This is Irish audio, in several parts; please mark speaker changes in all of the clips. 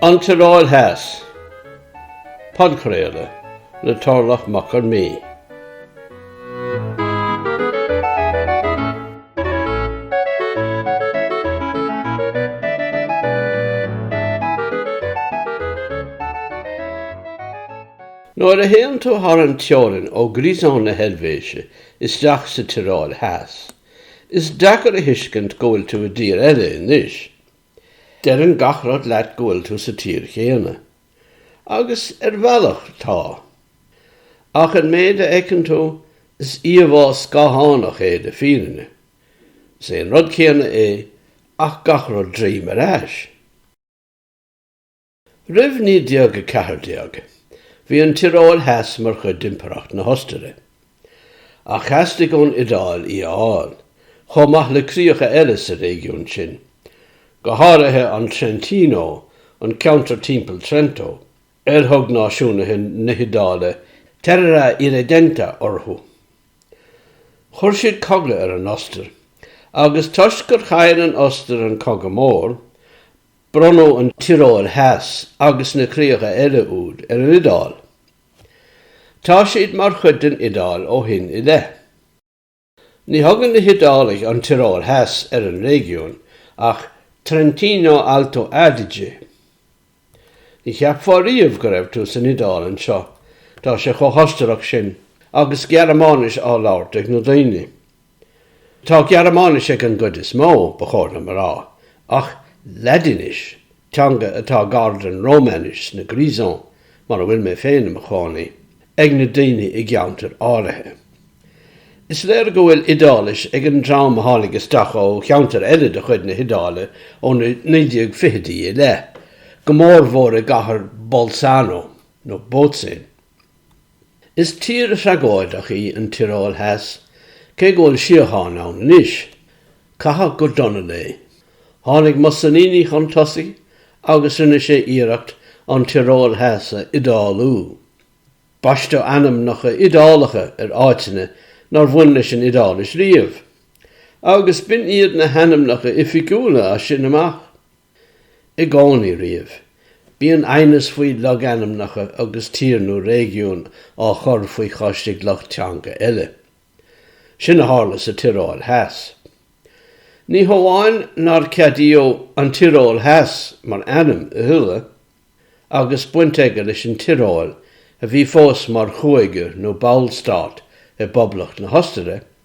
Speaker 1: An Tioróil Theas, Podchraoladh le Torlach Mac Con Midhe. Nuair a théann tú thar an teorainn ó Grisons na hEilvéise isteach sa Tioróil Theas, is deacair a thuiscint go bhfuil tú i dtír eile anois. Deireann gach rud leat go bhfuil tú sa tír chéanna. Agus ar bhealach, tá. Ach an méid a fheiceann tú, is íomhá scáthánach é den fhírinne. Is é an rud céanna é ach gach rud droim ar ais. Roimh 1914, bhí an Tioróil Theas mar chuid d'Impireacht na hOstaire, ach theastaigh ón Iodáil í a fháil, chomh maith le críocha eile sa réigiún sin, go háirithe an Trentino, an ceantar timpeall Trento, ar thug náisiúnaithe na hIodáile terra irredenta orthu. Chuir siad cogadh ar an Ostair, agus toisc gur chaill an Ostair an Cogadh Mór, Bronnadh an Tioróil Theas agus na críocha eile úd ar an Iodáil. Tá siad mar chuid den Iodáil ó shin i leith. Ní thugann na hIodálaigh an Tioróil Theas ar an réigiún ach Trentino-Alto Adige. Ní cheapfá riamh go raibh tú san Iodáil anseo, tá sé chomh hOstarach sin agus Gearmáinis á labhairt ag na daoine. Tá Gearmáinis ag an gcuid is mó, ba chóir dom a rá, ach Laidinis, teanga atá gar don Rómainis sna Grisons, mar a bhfuil mé féin i mo chónaí, ag na daoine i gceantair áirithe. Is léir go bhfuil Iodáilis ag an dream a tháinig isteach ó cheantair eile de chuid na hIodáile ó na 1920idí i leith, go mórmhór i gcathair Bolzano, nó Bozen. Is tír thragóideach í an Tioróil Theas, cé go bhfuil síocháin ann anois. Caitheadh go dona léi. Tháinig Mussolini chun tosaigh agus rinne sé iarracht an Tioróil Theas a Iodálú. Baisteadh ainmneacha Iodálacha ar áiteanna nár bhain leis an Iodáilis riamh, agus b'in iad na hainmneacha oifigiúla as sin amach. I gcónaí riamh, bíonn aighneas faoi logainmneacha agus tír nó réigiún á chur faoi chois ag lucht teanga eile. Sin a tharla sa Tioróil Theas. Ní hamháin nár ceadaíodh An Tioróil Theas mar ainm a thuilleadh, agus baint aige leis an Tioróil a bhí fós mar chúige nó ballstát i bPoblacht na hOstaire,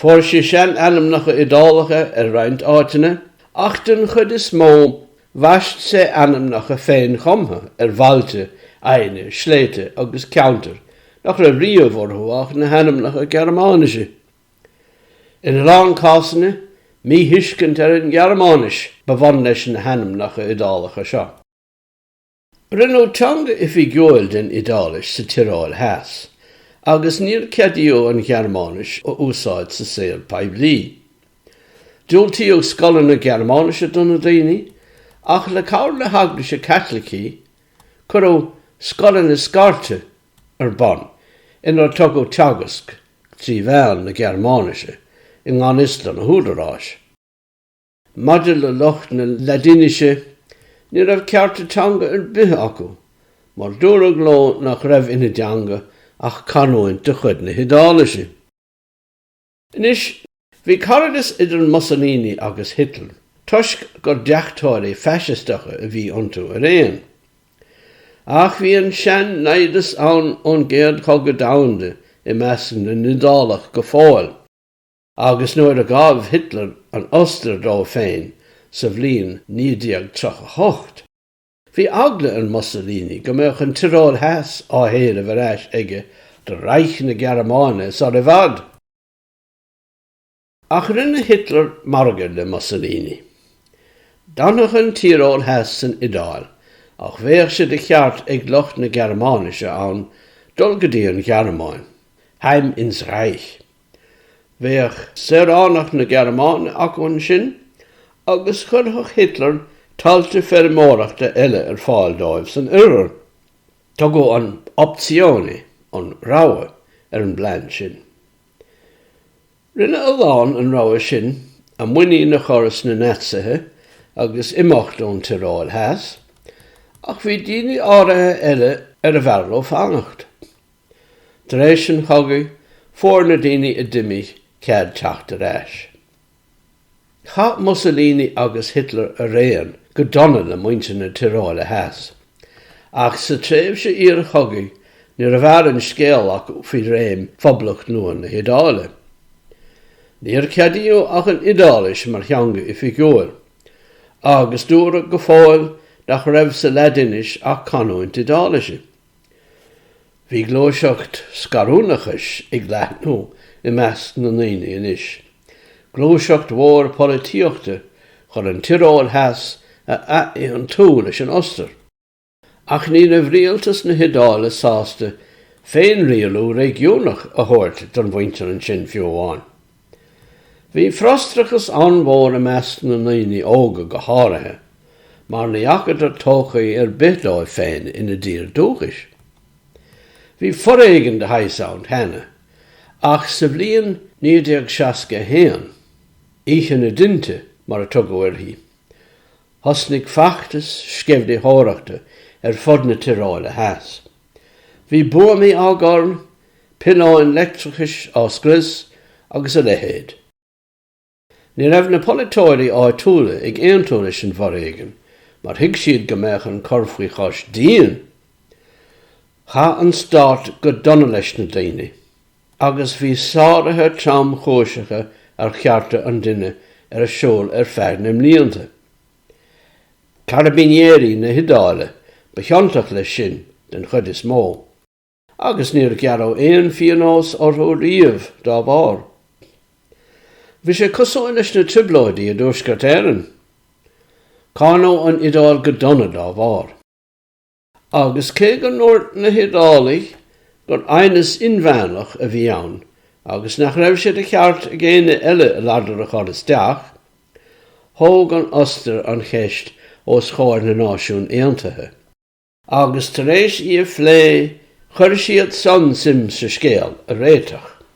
Speaker 1: Fuair sé seanainmneacha Iodálacha ar roinnt áiteanna, ach den chuid is mó bhaist sé ainmneacha féinchumtha ar bhailte, aibhne, sléibhte agus ceantair nach raibh riamh orthu ach na hainmneacha Gearmáinise. In a lán cásanna, míthuiscint ar an nGearmáinis ba bhun leis na hainmneacha Iodálacha seo. Rinneadh teanga oifigiúil den Iodáilis sa Tioróil Theas, agus níor ceadaíodh an Ghearmáinis a úsáid sa saol poiblí. Diúltaíodh scoileanna Gearmáinise do na daoine, ach le cabhair na hEaglaise Caitlicí, cuireadh scoileanna scairte ar bun inar tugadh teagasc trí mheán na Gearmáinise i ngan fhios do na húdaráis. Maidir le lucht na Laidinise, ní raibh cearta teanga ar bith acu, mar dúradh leo nach raibh ina dteanga ach canúint de chuid na hIodáilise. Anois, bhí caradas idir Mussolini agus Hitler, toisc gur deachtóirí faisisteacha a bhí iontu araon. Ach bhí an sean-naimhdeas ann ón gCéad Chogadh Domhanda i measc na nIodálach go fóill. agus nuair a ghabh Hitler an Ostair dó féin sa bhliain 1938, bhí eagla ar Mussolini go mbeadh an Tioróil Theas á héileamh ar ais aige do Reich na Gearmáine sar i bhfad. Ach rinne Hitler margadh le Mussolini. D'fhanfadh an Tioróil Theas san Iodáil ach bheadh sé de cheart ag lucht na Gearmáinise ann dul go dtí an Ghearmáin, heim ins Reich, Bheadh saoránacht na Gearmáine acu ansin agus chuirfeadh Hitler tailte feirmeoireachta eile ar fáil dóibh san oirthear. Tugadh an opzione, an rogha, ar an bplean sin. Rinne a lán an rogha sin a muinín a chur sna Naitsithe agus imeacht ón Tioróil Theas, ach bhí daoine áirithe eile arbh fhearr leo fanacht. Tar éis an chogaidh, fuair na daoine a d'imigh cead teacht ar ais. Chaith Mussolini agus Hitler araon go dona le muintir na Tioróile Theas, ach sa tréimhse iarchogaidh níorbh fhearr an scéal acu faoi réim Phoblacht nua na hIodáile. Níor ceadaíodh ach an Iodáilis mar theanga oifigiúil, agus dúradh go fóill nach raibh sa Laidinis ach canúint Iodáilise. Bhí gluaiseacht scarúnachais ag leathnú i measc na ndaoine anois, gluaiseacht mhór polaitíochta chun an Tioróil Theas a athaontú leis an Ostair. Ach ní raibh rialtas na hIodáile sásta féinrialú réigiúnach a thabhairt don mhuintir ansin, fiú amháin. Bhí frustrachas an-mhór i measc na ndaoine óga go háirithe mar ní fhacadar todhchaí ar bith dóibh féin ina dtír dúchais. Bhí foréigean de shaghas ann cheana ach sa bhliain 1961, Oíche na dTinte mar a tugadh uirthi, thosnaigh feachtas sceimhlitheoireachta ar fud na Tioróile Theas. Bhí buamaí á gcur, piolóin leictreachais á scrios agus a leithéid. Ní raibh na polaiteoirí áitiúla ag aontú leis an bhforéigean mar thuig siad go mbeadh an cur faoi chois dian. Chaith an stát go dona leis na daoine agus bhí sáruithe tromchúiseacha ar chearta an duine ar siúl ar feadh na mblianta. Carabinieri na hIodáile ba chiontach leis sin den chuid is mó, agus níor gearradh aon phíonós orthu riamh dá bharr. Bhí sé cosúil leis na Trioblóidí i dTuaisceart Éireann. Cáineadh an Iodáil go dona dá bharr. Agus cé go ndúirt na hIodálaigh gur aighneas inmheánach a bhí ann agus nach raibh sé de cheart ag éinne eile a ladar a chur isteach, thóg an Ostair an cheist os chomhair na Náisiún Aontaithe. Agus tar éis í a phlé, chuir siadsan suim sa scéal a réiteach.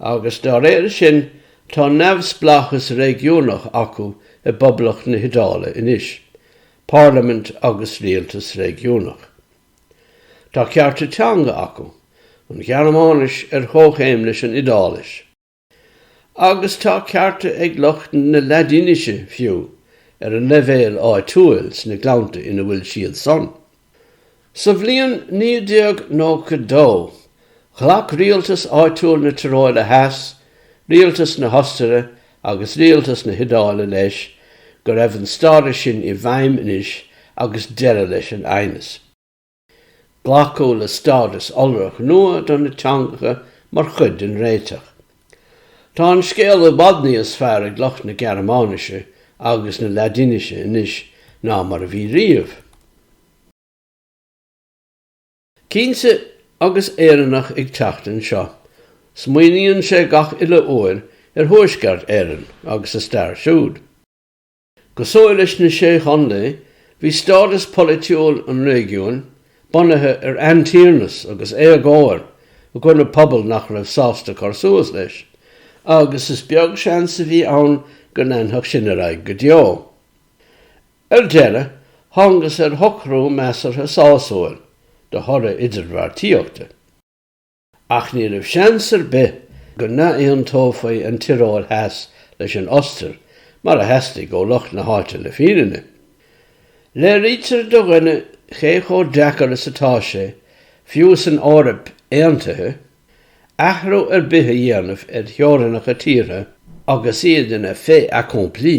Speaker 1: agus dá réir sin tá neamhspleáchas réigiúnach acu i bPoblacht na hIodáile anois, parlaimint agus rialtas réigiúnach. Tá cearta teanga acu, an Ghearmáinis ar chomhchéim leis an Iodáilis, agus tá cearta ag lucht na Laidinise fiú, ar an leibhéal áitiúil sna gleannta ina bhfuil siadsan. Sa bhliain 1992, ghlac rialtas áitiúil na Tioróile Theas, rialtas na hOstaire agus rialtas na hIodáile leis go raibh an stádas sin i bhfeidhm anois agus deireadh leis an aighneas. Glacadh le stádas iolrach nua do na teangacha mar chuid den réiteach. Tá an scéal i bhfad níos fearr ag lucht na Gearmáinise agus na Laidinise anois ná mar a bhí riamh. Cinnte, agus Éireannach ag teacht anseo, smaoiníonn sé gach uile uair ar Thuaisceart Éireann agus a stair siúd. Cosúil leis na Sé Chontae, bhí stádas polaitiúil an réigiúin bunaithe ar aintiarnas agus éagóir i gcoinne pobal nach raibh sásta cur suas leis, agus is beag seans a bhí ann go leanfadh sin ar aghaidh go deo. Ar deireadh, thángthas ar shocrú measartha sásúil de thoradh idirbheartaíochta. Ach ní raibh seans ar bith go n-aontófaí an Tioróil Theas leis an Ostair, mar a theastaigh ó lucht na háite le fírinne. Léirítear do dhuine cé chomh deacair is atá sé, fiú san Eoraip aontaithe, athrú ar bith a dhéanamh ar theorainneacha tíortha agus iad ina fait accompli.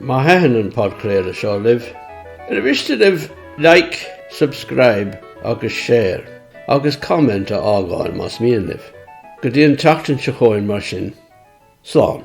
Speaker 1: Má thaitin an podchraoladh seo libh, ar mhiste libh like, subscribe agus share agus comment a fhágáil más mian libh. Go dtí an tseachtain seo chugainn mar sin, slán.